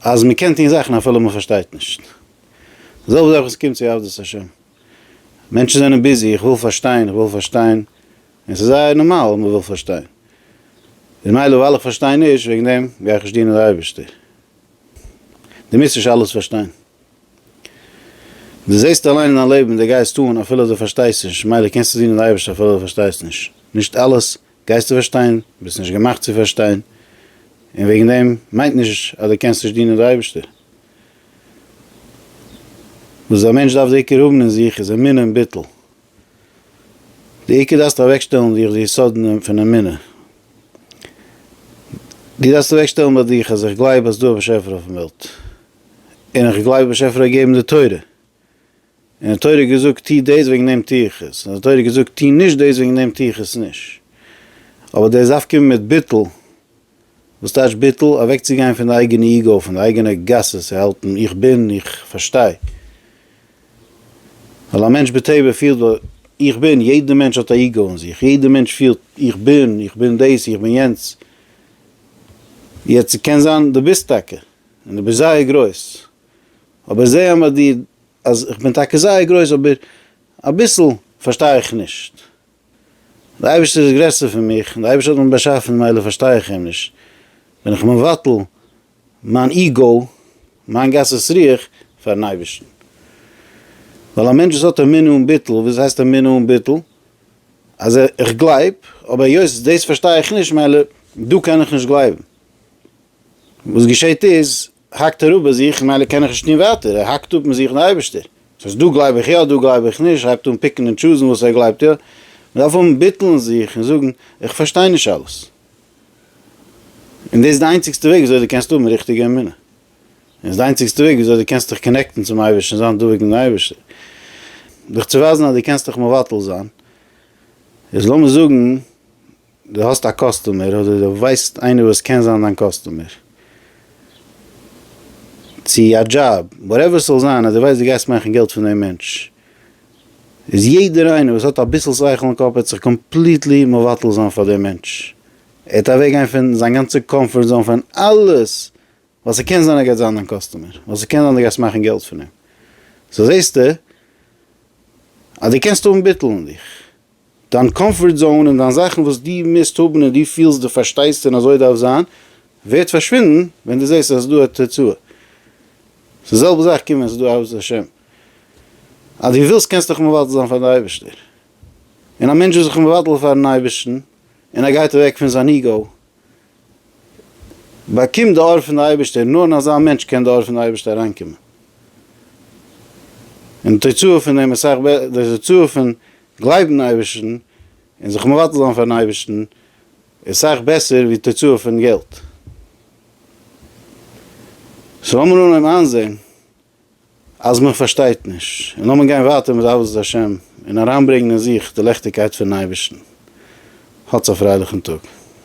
אז מ'קען טון זאכן אפילו מ'פארשטייט נישט. זעלבע זאך ווען ס'קומט צו עבדות השם. מענטשן זענען ביזי, איך וויל פארשטיין, איך וויל פארשטיין, און ס'איז זייער נארמאל אז מ'וויל פארשטיין. ממילא ווייל איך פארשטיי נישט, וועגן דעם גיי איך נישט דינען די אייבערשטער. דו מוזט נישט אלעס פארשטיין. דו זעסט אליין אין דיין לעבן, דו גייסט אן אפילו דו פארשטייסט נישט, ממילא קענסטו דינען די אייבערשטער אפילו דו פארשטייסט נישט. נישט אלעס גייסטו פארשטיין, ביסט נישט געמאכט צו פארשטיין, און וועגן דעם מיינט נישט אז דו קענסט נישט דינען די אייבערשטער. וואס א מענטש דארף די עיקר האבן אין זיך איז אמונה און ביטול. די עיקר דארפסטו אוועקשטעלן אין דיך די יסודן פון אמונה. דו דארפסט אוועקשטעלן ביי דיך אז איך גלייב אז ס'דא א באשעפער אויפן וועלט, און איך גלייב די באשעפער האט געגעבן די תורה. און די תורה האט געזאגט טו דאס וועגן דעם טו איך עס, און די תורה האט געזאגט טו נישט דאס וועגן דעם טו איך עס נישט, אבער דאס דארף קומען מיט ביטול, וואס טייטש ביטול? אוועקצוגיין פון די אייגענע איגאו, פון די אייגענע גסות, צו האלטן איך בין, איך פארשטיי, ווייל א מענטש בטבע פילט איך בין, יעדע מענטש האט א איגאו אין זיך, יעדע מענטש פילט איך בין, איך בין דאס, איך בין יענץ, יעצט ס'קען זיין דו ביסט טאקע, און דו ביסט זייער גרויס, אבער זעה אמער דיר אז איך בין טאקע זייער גרויס אבער אביסל פארשטיי איך נישט. דער אייבערשטער איז גרעסער פון מיך און דער אייבערשטער האט מיך באשאפן מילא פארשטיי איך אים נישט, בין איך מבטל מיין איגאו, מיין גסות רוח פארן אייבערשטן. ווייל א מענטש וואס האט אמונה אן ביטול, וואס הייסט אמונה אן ביטול? אז איך גלייב אבער היות דאס פארשטיי איך נישט מילא דא קען איך נישט גלייבן. וואס געשעהט איז האקט ער אפ ביי זיך, ממילא קען איך נישט טון ווייטער, ער האקט אפ מיט זיך און אייבערשטער. ס'הייסט דא גלייב איך יא, דא גלייב איך נישט, הייבט אן פיקן און טשוזן וואס ער גלייבט יא. מ'דארף האבן ביטול אין זיך און זאגן, איך פארשטיי נישט אלעס. און דאס איז די איינציגסטע וועג וויאזוי דו קענסט האבן ריכטיגע אמונה. און ס'איז די איינציגסטע וועג וויאזוי דו קענסט דיך קאנעקטן צום אייבערשטן, זיין דבוק מיטן אייבערשטער. דיך צו ווייזן אז דו קענסט דיך מבטל זיין, איז לאמיר זאגן, דו האסט א קאסטומער אדער דו ווייסט איינער וואס קען זיין דיין קאסטומער, צו א דזשאב, וואטעווער ס'זאל זיין, אז דו ווייסט דו גייסט מאכן געלט פון דעם מענטש, איז יעדער איינער וואס האט אביסל שכל אין קאפ וועט זיך קאמפליטלי מבטל זיין פאר דעם מענטש, ער וועט אוועק גיין פון זיין גאנצע קאמפארט זאון פון אלעס, ווייל ס'קען זיין ער גייט זיין דיין קאסטומער, ווייל ס'קען זיין דו גייסט מאכן געלט פון אים, סאו זעסטו אז דו קענסט האבן ביטול אין דיך. דיין קאמפארט זאון און דיין זאכן וואס דו מוזט האבן און דו פילסט דו פארשטייסט און אזוי דארף זיין, ווערט פארשווינדן ווען דו זעסט אז ס'איז דא א תוצאה. ס'איז די זעלבע זאך קומט ווען ס'איז דא אהבת השם. אז דו ווילסט קענסטו דיך מבטל זיין פאר די אייבערשטער. און א מענטש איז זיך מבטל פארן אייבערשטן און ער גייט אוועק פון זיין איגאו באקומט די אור פון די אייבערשטער, נאר אין אזא מענטש קען די אור פון די אייבערשטער אריינקומען, און די תוצאה פון דעם איז סאך בעסער, די תוצאה פון גלייבן אין אייבערשטן און זיך מבטל זיין פארן אייבערשטן איז סאך בעסער ווי תוצאה פון געלט, סאו לאמיר אנהייבן איינזען אז מען פארשטייט נישט, און לאמיר גיין ווייטער מיט עבודת השם און אריינברענגן אין זיך די לעכטיגקייט פונעם אייבערשטן, האטס א פרייליכן טאג.